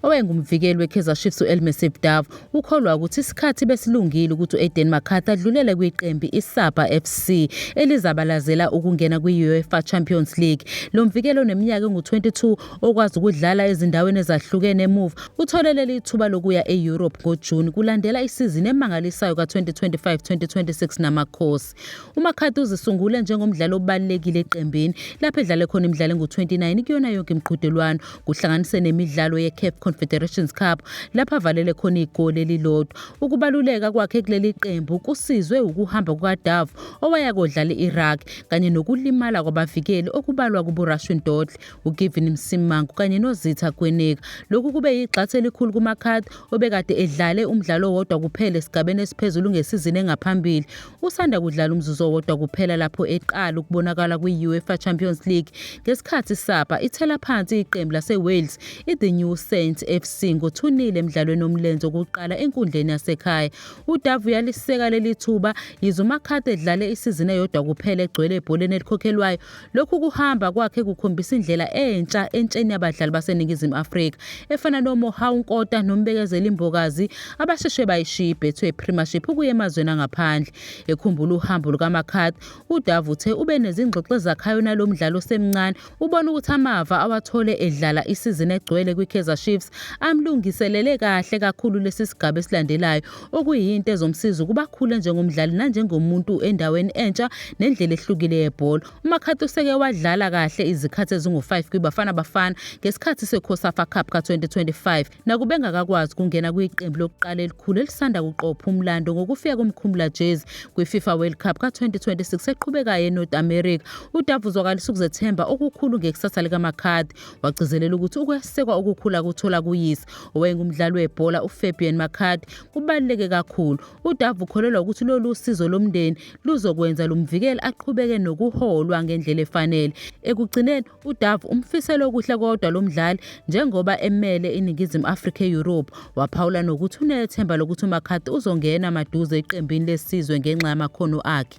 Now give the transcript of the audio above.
Owayengumvikeli weKaizer Chiefs u-Elmesip Dav ukholwa ukuthi isikhathi besilungile ukuthi u-Aiden McCarthy adlulele kwiqembi iSabha FC elizabalazela ukungena kwi-UEFA Champions League. Lo mvikeli oneminyaka engu-22 okwazi ukudlala ezindaweni ezahlukene emuva uthole leli thuba lokuya e-Europe ngoJuni kulandela isizini emangalisayo ka-2025-2026 naMakhosi. UMcCarthy uzisungule njengomdlali obalulekile eqembini lapho edlale khona imidlalo engu-29 kuyona yonke imiqhudelwano kuhlanganise nemidlalo ye-CAF Confederations Cup lapho avalele khona igoli elilodwa. Ukubaluleka kwakhe kuleli qembu kusizwe ukuhamba kukaDove owaya kodlala i-Iraq kanye nokulimala kwabavikeli okubalwa kubuRashwin Dodle, uGivin Msimangu kanye noZitha Gweneka. Lokhu kube yigxathu elikhulu kuMcCarthy obekade edlale umdlalo owodwa kuphela esigabeni esiphezulu ngesizini engaphambili, usanda kudlala umzuzu owodwa kuphela lapho eqala ukubonakala kwi-UEFA Champions League ngesikhathi iSapa ithela phansi iqembu laseWales i-The New Saints FC ngothunile emdlalweni omlenze wokuqala enkundleni yasekhaya. UDavu uyaliseka leli thuba yize uMakhate edlale isizini eyodwa kuphela egcwele ebholeni elikhokhelwayo Lokhu kuhamba kwakhe kukhombisa indlela entsha entsheni yabadlali baseNingizimu Afrika efana noMohau Nkota noMbekezeli Mbokazi abasheshe bayishiya iBetway Premiership ukuya emazweni angaphandle. Ekhumbula uhambo lukaMakhad, uDove uthe ube nezingxoxo ezakhayo nalo mdlali osemncane, ubona ukuthi amava awathole edlala isizini egcwele kwiKaizer Chiefs amlungiselele kahle kakhulu lesi sigaba esilandelayo okuyinto ezomsiza ukuba akhule njengomdlali nanjengomuntu endaweni entsha nendlela ehlukile yebhola. UMakhathi useke wadlala kahle izikhathi ezingu-5 kwiBafana Bafana ngesikhathi seCosafa Cup ka-2025 nakube engakakwazi ukungena kwiqembu lokuqala elikhulu elisanda kuqopha umlando ngokufika komkhumula jezi kwiFifa World Cup ka-2026 eqhubekayo eNorth America. Udaba uzwakalisa ukuzethemba okukhulu ngekusasa likaMakhathi. Wagcizelela ukuthi ukwesekwa okukhula kuthola kuyise owayengumdlali webhola uFabian Makadi kubaluleke kakhulu. UDavu ukholelwa ukuthi lolu sizo lomndeni luzokwenza lumvikele aqhubeke nokuholwa ngendlela efanele. Ekugcineni uDavu umfisela okuhle kodwa lo mdlali njengoba emele iNingizimu Afrika e-Europe. Waphawula nokuthi unethemba lokuthi uMakadi uzongena maduze eqembini lesizwe ngenxa yamakhono akhe.